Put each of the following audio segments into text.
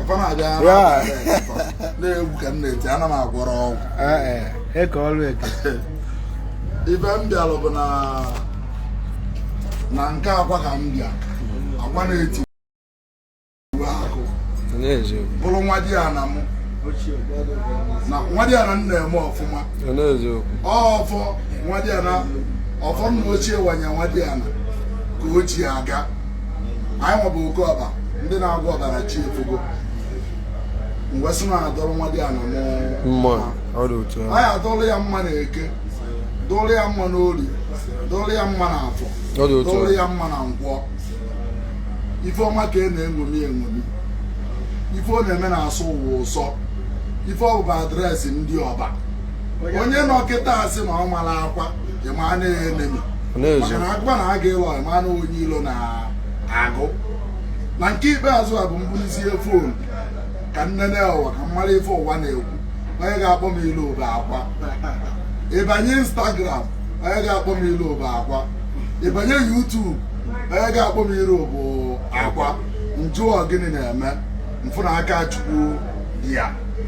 fa na-abịa Yeah. na-egwu ka m na-eti ana m agwọrọ ọgwụ Ee, e, eke ọrụ eke ife m bịalụ bụ na na nke akwa ka m bịa akwa na-etiwa akụ n'eziokwu bụrụ nwadiana mụ na nwadiana na-eme ọfụma n'eziokwu ọfọ nwadiana ọfọ nna ochie wanye nwadiana ka o ji aga anyịnwa bụ oke ọba ndị na-agwọ ọbara chi efugo m wee sị na adụrụ nwadiana mma anyị adụrụ ya mma na eke dụrụ ya mma n'orie dụrụ ya mma na afọ dụrụ ya mma na nkwọ ife ọma ka a na-eṅomi eṅomi ife ọ na-eme na-asọ ụwa ụsọ ife ọ bụ bụ address ndị ọba onye nọ kịta asị na ọ mara akwa ịma na enemy maka na akwa na-aga ịlọ ya mana onye ilo na agụ na nke ikpeazụ a bụ m bulizie fon ka m nenee ụwa ka m mara ife ụwa na-ekwu onye ga-akpọ m ilu bụ akwa ịbanye instagram onye ga-akpọ m ilu bụ akwa ịbanye youtube onye ga-akpọ m ilu bụ akwa m jụọ gịnị na-eme m fụ na aka chukwu dị ya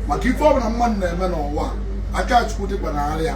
maka ife ọbụla mmadụ na-eme n'ụwa aka chukwu dịkwa n'ala ya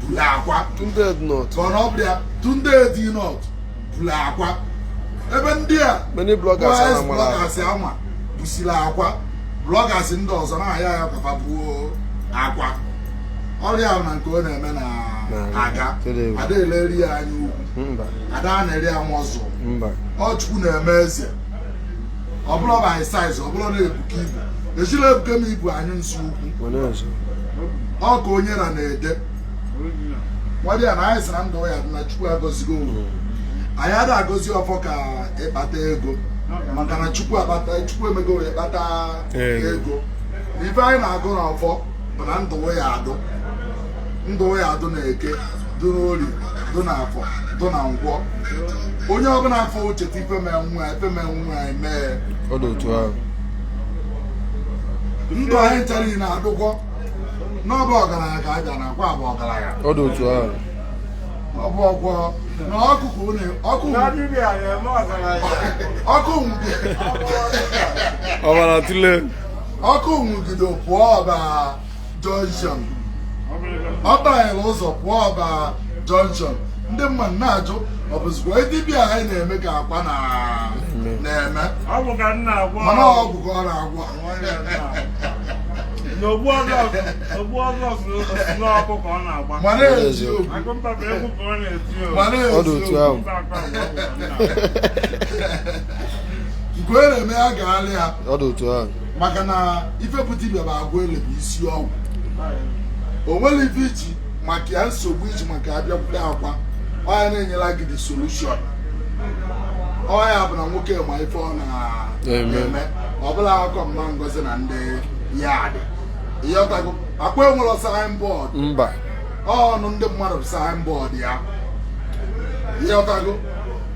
buru akwa mana ọ bụrụ ya tunde ednut buru akwa ebe ndị a many bloggers boys ama mara bloggers ama busiri akwa bloggers ndị ọzọ na-ayọ ya ka fa buo akwa ọrịa ahụ na nke ọ na-eme na Na- aga tere egwu. ada eleri ya anya ukwu mba ada a na-eri ya nwa ọzọ mba ọ chukwu na-eme eze ọ bụrọ by size ọ bụrọ na-ebuka ibu ejirọ ebuka m ibu anyụ nsị ukwu ọ ka onye na na-ede nwadiana anyị sịrị na ndụ ya dụ na chukwu agọzigo ya anyị ada agọzi ọfọ ka ị kpata ego maka na chukwu akpata chukwu emego ya kpata ego ife anyị na-agọ na ọfọ bụ na ndụ ya adụ ndụ ya dụ na eke dụ n'orie dụ na afọ dụ na nkwọ onye ọbụla afọ ocheta ifeme nwa ifeme nwa emee ọ dị otu ahụ ndụ anyị nchara ị na-adụkwa n'ọba ọgaranya ka abịa na akwa bụ ọgaranya ọ dị otu ahụ ọ bụ ọgwọ na ọkụkụ une ọkụ ọkụ nwụgide ọbara tụle ọkụ nwụgide pụọ ọba junction ọ banyere ụzọ pụọ ọba junction ndị mmadụ na-ajụ ọ bụzikwa dibịa anyị na-eme ka akwa na-eme mana ọgwụ ka ọ na-agwọ mana eziokwu nke onye na-eme ya gaalị ya maka na ife bụ dibịa bụ agwụ ele bụ isi ọgwụ o nwere ife iji maka ya nsogbu iji maka abịakwute akwa ọ ya na-enyela gị the solution ọ ya bụ na nwoke ma ife ọ na-eme ọ bụrọ akụkọ mama ngozi na ndị yard ịghọtago akwa enwerọ signboard mba ọnụ ndị mmadụ bụ signboard ya ịghọtago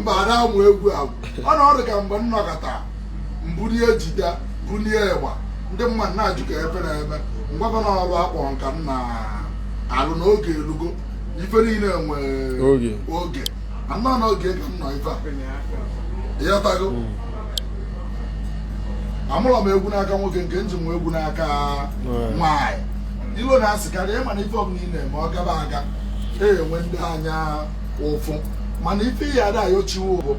mba ada amụ egwu agwụ ọ na ọrụ ka mgbe m nọkata m bulie guitar bulie ịgba ndị mmadụ na-ajụ ka ife m na-eme m gwa fa na ọrụ akpọrọ m ka m na-alụ na oge elugo ife niile nwee oge a nọ n'oge ka m nọ ife a ịghọtago hmm. amụrọ m egwu n'aka nwoke nke m ji mụ egwu n'aka nwaanyị ilo na asị karị ị ma na ife ọbụla ị na-eme ọ gaba aga e nwee ndị anya ụfụ mana ife ị ya-adị ayọ chukwu bụ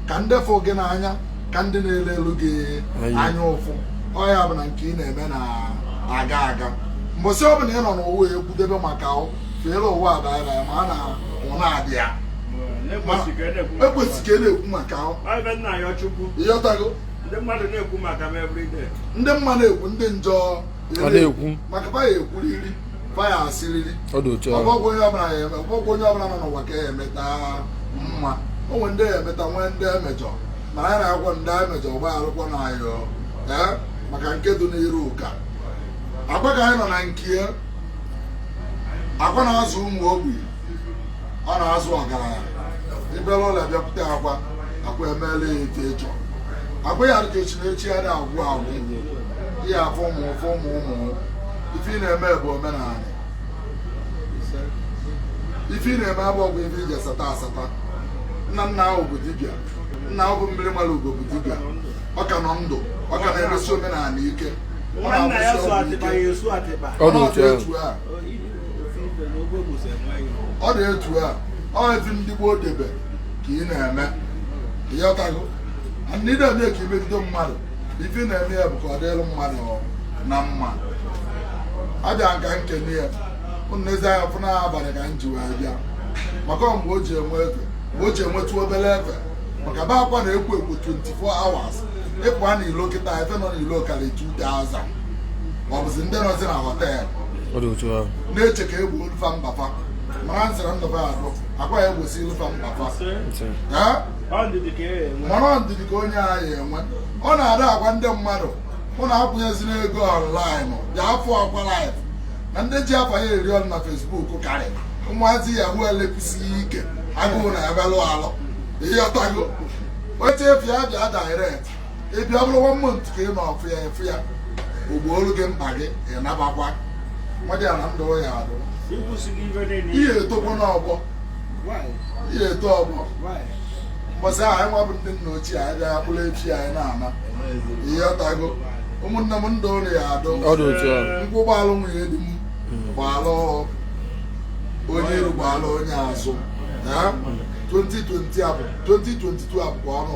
ka ndị fụ gị n'anya ka ndị na-enwelu gị anya ụfụ ọ ya bụ na nke ị na-eme na-aga aga mbọsị ọ bụla ị nọ n'ụwa ekwudebe maka feere ụwa adaara ya ma a na ọ na-adị ya ekwesị ka e na-ekwu maka ịghọtago ndị mmadụ na-ekwu maka m everyday ndị mma na-ekwu ndị njọ na-ekwu maka fa ya-ekwuriri fa ya-asịrịrị ọ dị otu ahụ ọ bụrọkwa onye ọbụla ya eme ọ bụrọkwa onye ọbụla nọ n'ụwa ka ị ya-emeta mma o nwere ndị ị ya-emeta nwee ndị emejọ mana anyị na-ayọ ndị emejọ gbaghalụkwanụ anyị o ee maka nke dị n'iru ka akwa ka anyị nọ na nke ya akwa na-azụ ụmụ ogbenye ọ na-azụ ọgaranya i bulu ọlụ bịakwute akwa akwa emeela ya etu ị chọ akwa ya-adị ka echi na echi anaa agwụ agwụ ya afọ ụmụ ụfọ ụmụ ụmụ ife ị na-eme bụ omenala ife ị na-eme abụ ọgwụ ife iji asata asata nna nna ahụ bụ dibịa nna ahụ bụ mmiri mara ugo bụ dibịa ọ ka nọ ndụ ọ ka na-emesi omenala ike ọ na-agwọsi ọgwụ ike ọ dị otu a ọ dị etu a ọ etu ndị gboo debe ka ị na-eme ịghọtago ndị na-eme ka imegide mmadụ ife na-eme ya bụ ka ọ dịrị mmadụ na mma abịa m ka m kene ya nezi anya fụ na abalị ka m ji wee bịa maka mgbe o ji enwe efe mgbe o ji enwetụ obere efe maka be Akwa na-ekwo ekwo 24 hours ị pụa na ilo kịta ife nọ n'ilo karị 2000 ọ bụzi ndị nọzi na họteelụ ọ dị otu ahụ na-eche ka e gboolu fa mkpa fa mana nsịra ndụ ba adụ Akwa ya-egbosiolu fa mkpa fa Nsị. Eh? mana ọ ndidi ka onye a ya-enwe ọ na-ada agwa ndị mmadụ unu akwụnyezina ego online bịa fụ Akwa live na ndị ji afa ya eri unu na Facebook karị ụmụazị Yahoo elekwusighị ike agụụ na ya belụ alụ ị ghọtago ị chọ ịfụ ya bịa direct ị bịa bụrụ 1 month ka ị nọ fụ ya ị fụ ya o gboolu gị mkpa gị ị nabakwa mmadụ ya na ndụ ya adụ ị ya-etokwa n'ọgbọ ị ya-eto ọgbọ mbọsị ahụ anyị ya-abụ ndị nna ochie anyị bịa bụrụ echi anyị na-ana ị ghọtago ụmụnne m ndụ unu ya adụ nkwụ gbaalụ nwunye di m gbaalụ onye iru gbaalụ onye azụ 2022 abụkwa ọnụ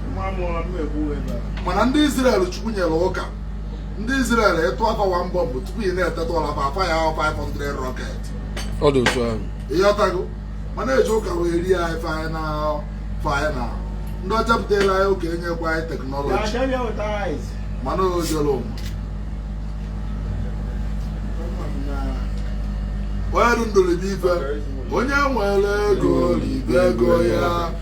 mana ndị Izrel Chukwu nyere ụka ndị Izrel ị tụa fa 1 bọmbụ tupu ị na-eteta ụla bụ afa ya 500 rocket ị ghọtago mana e ji ụka wee rie anyị final final ndị ọcha butela anyị ụka enyekwa anyị teknọlọji mana ọ jọrọ onye ndụ ribe onye nwere ego ribe ego ya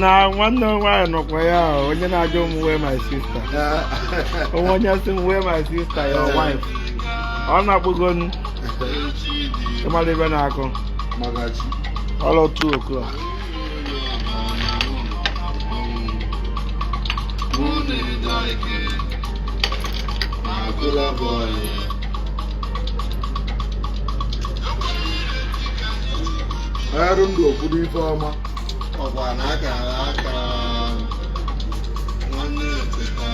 na nwanne m nwaanyị nọkwa ya, onye na-ajụ m where my sister o nwe onye sị m where my sister your wife ọ na-akpụgo m ị mara ife na-akụ ọlọ 2 o'clock arụ ndụ ọ bụrụ ife ọma ọkwa na akara aka nwanne eteta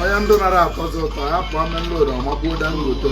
onye ndụ nara atọzi ụtọ ya pụọ main road ọ makụọ Dangote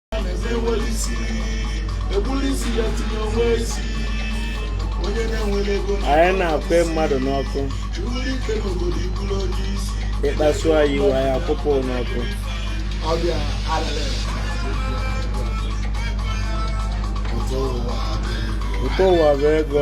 anyị na-akụ mmadụ n'ọkụ ị kpasu anyị iwe anyị akụpụ n'ọkụ ụtọ ụwa bụ ego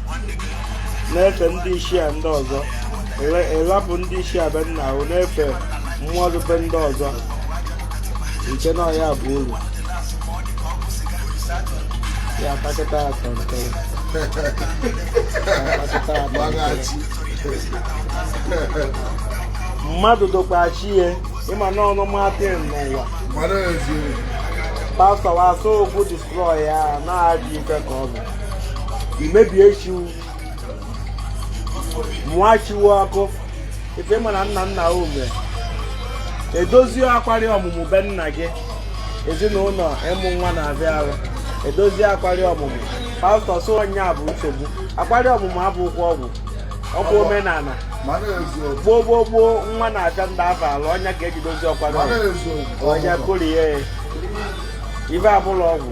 na-efe ndị ichie ndị ọzọ ị rapụ ndị ichie be nna ahụ na-efe mmụọ dị be ndị ọzọ nke na ọ ya bụ uru ya atakịta atọ nke mmadụ dokwa chi ya ị ma na ọnụ matin n'ụwa pastọ wasọ okwu destroy ya na-adị ife ka ọ bụ imebie chiwu mụọ chiwu ọkụ ife ị ma na nna nna ome edozie akwarị ọmụmụ be nna gị ezinụlọ ịmụ nwa na-afịa arụ edozie akwarị ọmụmụ pastọ sị ọ nya bụ nsogbu akwarị ọmụmụ abụkwa ọgwụ ọkwa omenala gboo gboo gboo nwa na-afịa ndị afụ arụ ọ nya ka e ji dozie akwarị ọmụmụ ọnya korie ife abụla ọgwụ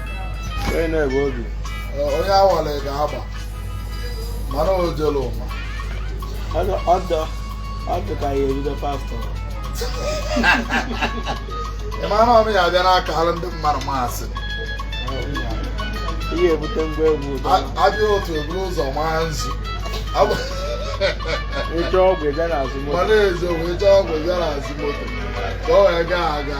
onye awara ga-agba mana o jere ụwa ọ dị ka ya ebido pastọ ị mara ọnụ ya abịa n'aka alụ ndị mmadụ masị ihe ebute ngwa egwu abịa otu eburu ụzọ maa nzu ịchọ ọgwụ ịbịa n'azụ moto mana ezo wee chọọ ọgwụ ịbịa n'azụ moto ka o wee gaa aga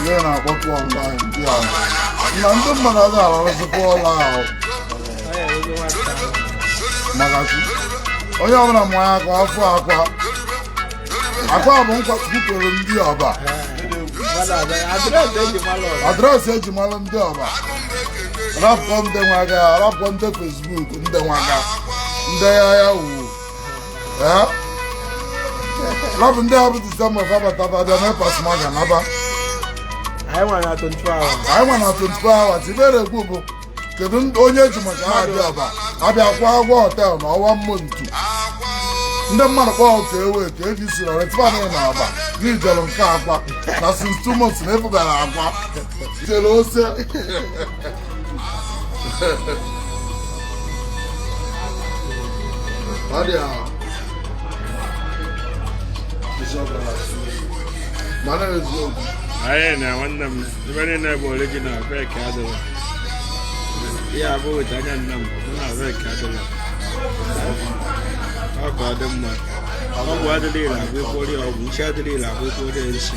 Ndị na-akpọpụ ọnwa ndị a na ndị mmadụ adịghị arụzikwa ọla ahụ maka chi onye ọbụla ma ya ka afọ akwa akwa bụ nkwa kwupụrụ ndị Ọba address e ji mara ndị Ọba rapụkwa ndị nwaga rapụkwa ndị Facebook ndị nwaga ndị ya Yahoo rapụ ndị abụ December ga-abataba abịa mee pasma ga naba anyị nwa na 24 hours anyị nwa na 24 hours ibere ekwu bụ kedu onye e ji maka ha abịa Ọba abịakwa agwọ hotel na Ọba mmụ ntu ndị mmadụ kpọọ ka ewe ka e ji sị na retifan na Ọba n'ijelu nke Akwa na since two months na e bugara Akwa jere ose ọ dị ha mana eziokwu anyị na nwanne m ebe niile bụ original fake adịla ihe abụ weta anya nna m na fake adịla ọ ka ọ dị mma ọgwụ adịla ire agwụ ekpori ọgwụ nsị adịla ire agwụ ekpori nsị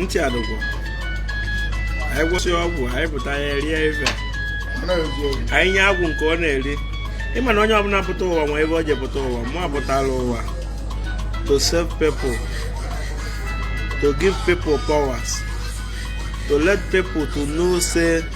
ntị adụgwọ anyị gwọsị ọgwụ anyị pụta ya rie ife anyị nye agwụ nke ọ na-eri ị ma na onye ọbụla pụta ụwa ma ife o ji pụta ụwa mụ apụtala ụwa to serve people to give people powers to let people to know say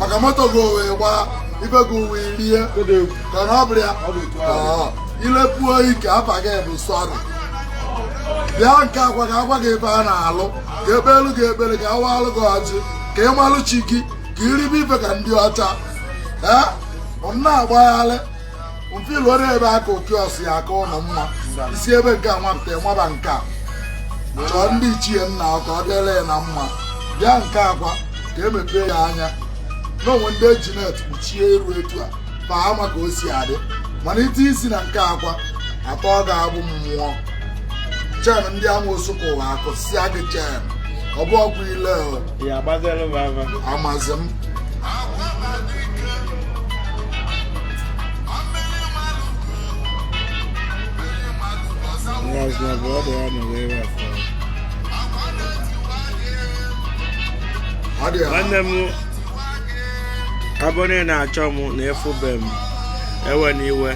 maka moto gị wee gbaa ibe gị wee rie ka na ọ bụrụ ya ilepuo ike afa gị bụ sọrị bịa nke akwa ka a gwa gị ebe a na-alụ ka ekpelu gị ekpelu ka awalụ gị ọjị ka ị malụ chi gị ka i ribe ife ka ndị ọcha ee unu na-agbaghalị mfe ilu ọrụ ebe aka okiọs ya aka ụnọ mmụọ i si ebe nke a wapụta waba nke a chọọ ndị ichie nna ọ ka ọ dịrị ya na mma bịa nke akwa ka emepee ya anya na o nwe ndị eji net kpuchie iru etu a fa ama ka o si adị mana ite isi na nke akwa atọọ gị agbụ mmụọ chain ndị amoosu kụwa akụsịa gị chain ọ bụ ọgwụ ile o, ya agbazere m ama amazi m Yes my brother. I know where that's from. nwanne m ọ bụrụ na ị na-achọ m na ị fụbe m ewena iwe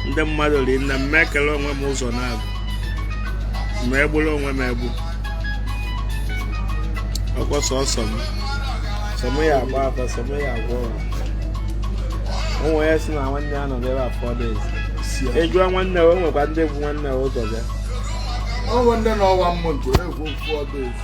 ndị mmadụ ri nne m ekere onwe m ụzọ naabọ ma egburu onwe m egbu ọkwa sọsọ m sọ m ya agba afa sọ m ya agwọ ọrịa ụmụ ya si na nwanne ya nọ n'ebe a four days ị jụọ nwanne ya o nwekwa ndị bu nwanne ya ụzọ bịa o nwe ndị nọ one month egwu ụfọdụ ezi.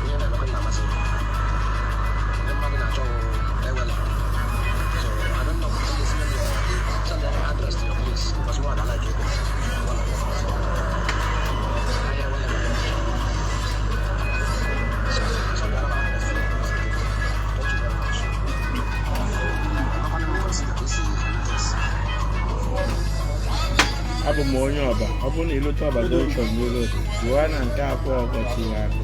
abụ m onye Ọba ọ bụrụ na i lute Ọba junction n'ụlọ jụọ na nke akwa ọkụkọ tiwa akụ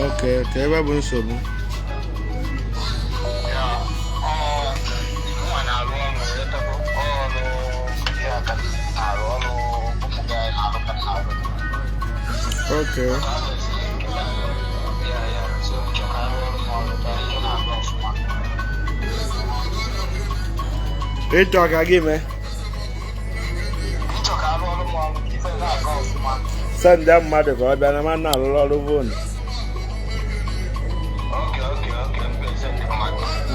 Okay, okay, ebe bụ nsogbu. Okay. ị chọọ ka gị mee send mmadụ ka ọ bịa na m na-alụrụ ọrụ phone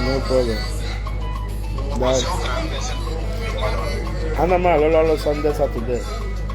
no problem ana m alụrụ ọrụ Sunday Saturday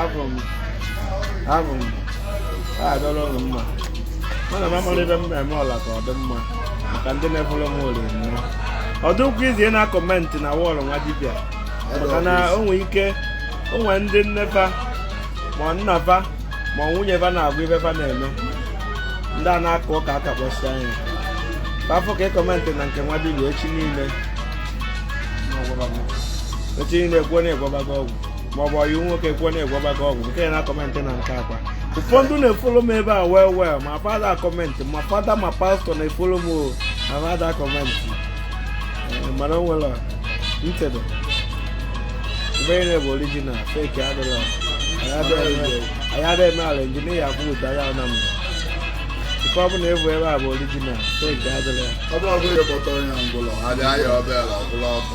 abụ m abụ m adịrọ ụnụ mma mana m amara ebe m na-eme ọla ka ọ dị mma maka ndị na-efolo m ori nnọọ ọ dịkwa izi na-akọmentị na wọọlụ nwa dibịa maka na o nwere ike o nwere ndị nne fa ma nna fa ma nwunye fa na-agụ ife fa na-eme ndị a na-akụ ụka aka kpọsịa anya ka a fụ ka ị kọmentị na nke nwa dibịa echi niile echi niile kwuo na ị gwọbago ọgwụ maọbụ ọyị nwoke kwuo na ị gwọbago ọgwụ nke ị na-akọmentị na nke Akwa ụfọdụ na-efolo m ebe a well well ma fa ada akọmentị ma fada ma pastọ na-efolo m ọ na fa ada akọmentị Eh, mana o nwere ntede ebe ị na-ebe orijinal feki adịla anyị ada eme ala injinia afụ ụta ya na mba ife ọ bụla e bu ebe a bụ orijinal feki adịla ọ bụrụ ọbụla ịkpọtọrọ ya ngwụlọ ha dị ahịa ọbịa ala ọbụla ọkụ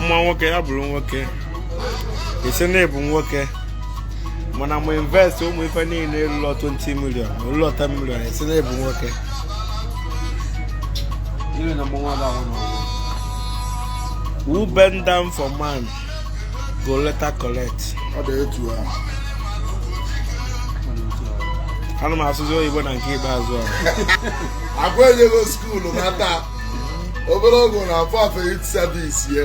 mma nwoke ya bụrụ nwoke a sị na ị bụ nwoke mana mụ invest ụmụ ife niile lulu 20 million lulu 10 million a sị na ị bụ nwoke who bend down for man go later collect ọ dị etu a ana m asụzi oyibo na nke ikpeazụ a Akwa ejego skuulu nata obere oge na-afọ afọ youth service ye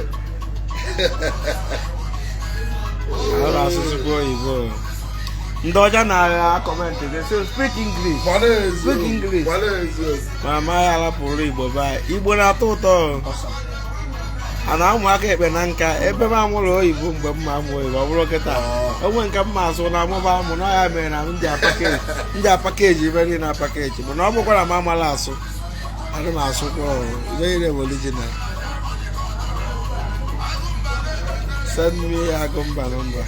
Ana m asụzikwa oyibo. Ndị ọcha na-aga akọmentị they say speak English. gbara eziokwu Speak English. gbara eziokwu Ma amaghị alapụrụ Igbo be anyị. Igbo na-atọ ụtọ. A na-amụ aka ekpe na nka ebe m amụrọ oyibo mgbe m ma amụ oyibo ọ bụrọ kịta o nwe nke m ma asụ na amụba amụ na ọ ya mere na ndị apakeji ndị apakeji ife niile apakeji mana ọ bụkwara m amala asụ ana m asụkwa ọrụ ife niile bụ original send me agụ mba nọ mba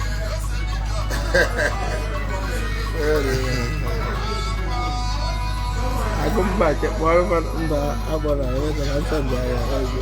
agụ mba kekpọrọ mba agbara ewetara nsọ ndị agha